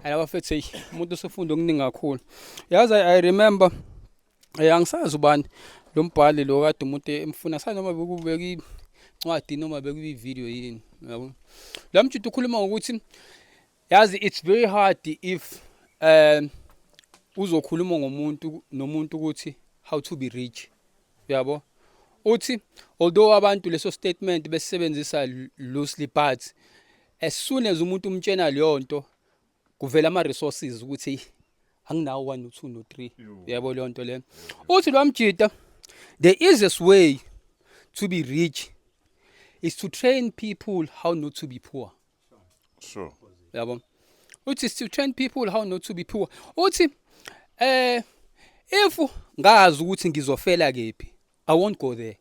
Ayla bafethu hey umuntu usufunda okuningi kakhulu. Yazi I remember eh angisazi ubani lo mbhali lo kade umuntu emfuna sanoma bekubeka incwadi noma bekuyi video yini yabo. La mjita ukhuluma ngokuthi yazi it's very hard if um uzokhuluma ngomuntu nomuntu ukuthi how to be rich yabo uthi although abantu leso statement besebenzisa loosely but As soon as umuntu umtshena leyo nto kuvela ama resources ukuthi anginawo 1 no 2 no 3 yebo leyo nto le uthi lo mjita the easiest way to be rich is to train people how not to be poor sure yabo uthi is to train people how not to be poor uthi eh if ngazi ukuthi ngizofela kephi I won't go there.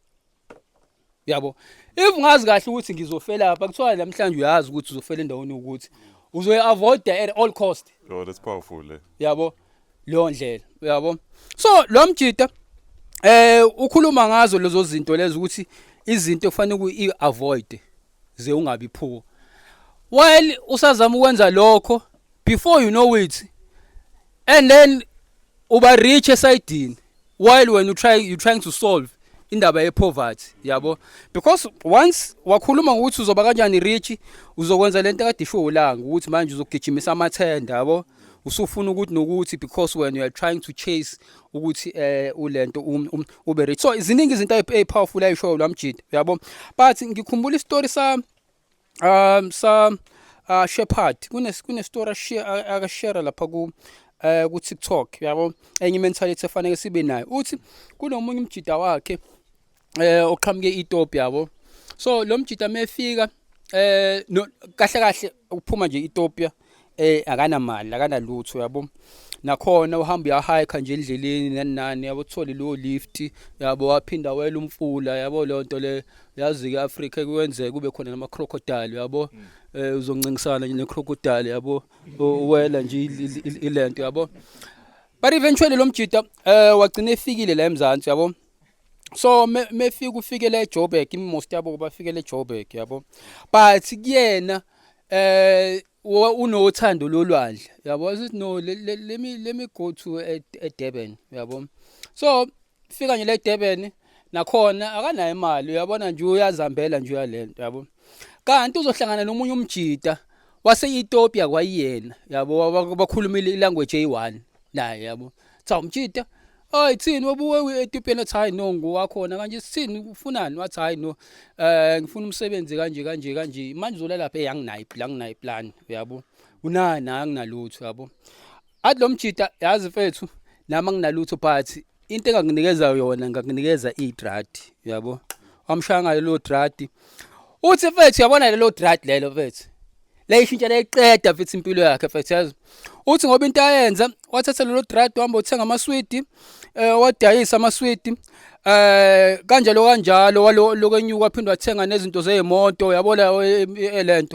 Yabo. If ngazi kahle ukuthi ngizofela lapha kuthiwa namhlanje uyazi ukuthi uzofela endaweni ukuthi uzoyi avoid at all cost. Yo that's powerful le. Yabo. Leyo ndlela. Yabo. So lo mjita eh ukhuluma ngazo lezo zinto lezo ukuthi izinto kufanele uku avoid ze ungabi phuko. While usazama ukwenza lokho before you know it and then uba rich esidini while when you try you trying to solve indaba yepoverty yabo because once wakhuluma ngokuthi uzoba kanjani rich uzokwenza lento kade isho ulanga ukuthi manje uzogijimisa amathenda yabo usufuna ukuthi nokuthi because when you are trying to chase ukuthi eh ulento um, um, ube rich so iziningi izinto ezipowerful ayisho lwamjida yabo but ngikhumbula istory sa um sa uh, shepherd kunestory akashera lapha ku eh ku TikTok yabo enye mentality efanele sibe nayo uthi kunomunye umjida wakhe eh oqhamuke iTop yabo so lo mjida mefika eh kahle kahle uphuma nje iTopia eh akanamali akanalutho yabo nakhona uhamba uyahike nje endleleni nanani yabo uthole lo lift yabo waphinda wela umfula yabo lonto le yazi ke Africa kuyenze kube khona nama crocodile yabo mm. eh uzoncingisana ne crocodile yabo wela nje ilento yabo but eventually lo mjita eh wagcina efikile la eMzansi yabo so mefika me ufikele eJoburg imost yabo bafikele eJoburg yabo but kuyena eh unothando lolwandle yabo asithi no let me let me go to eh, eh, Durban yabo so fika nje le Durban nakhona akanayo imali uyabona nje uyazambela nje uyalento yabo kanti uzohlangana nomunye umjita wase-ethiopia kwayiyena yabo bakhuluma ilanguage eyi-one naye yabo cha umjita Hayi thini obuwe uEthiopia nathi hayi no ngowakhona kanje sithini ufunani wathi hayi no eh ngifuna umsebenzi kanje kanje kanje manje uzola lapha hey anginayo iplan anginayo iplan uyabo unani anginalutho yabo athi lo mjita yazi mfethu nami anginalutho but into engakunikeza yona ngakunikeza idrad uyabo wamshaya ngalo drad uthi mfethu yabona lelo drad lelo mfethu layishintsha layiqeda mfethu impilo yakhe mfethu yazi uthi ngoba into ayenza wathatha lelo drug wahamba uthenga amaswidi eh wadayisa amaswidi eh kanjalo kanjalo lokwenyuka waphinde wathenga nezinto zeemoto yabona eh, eh, lento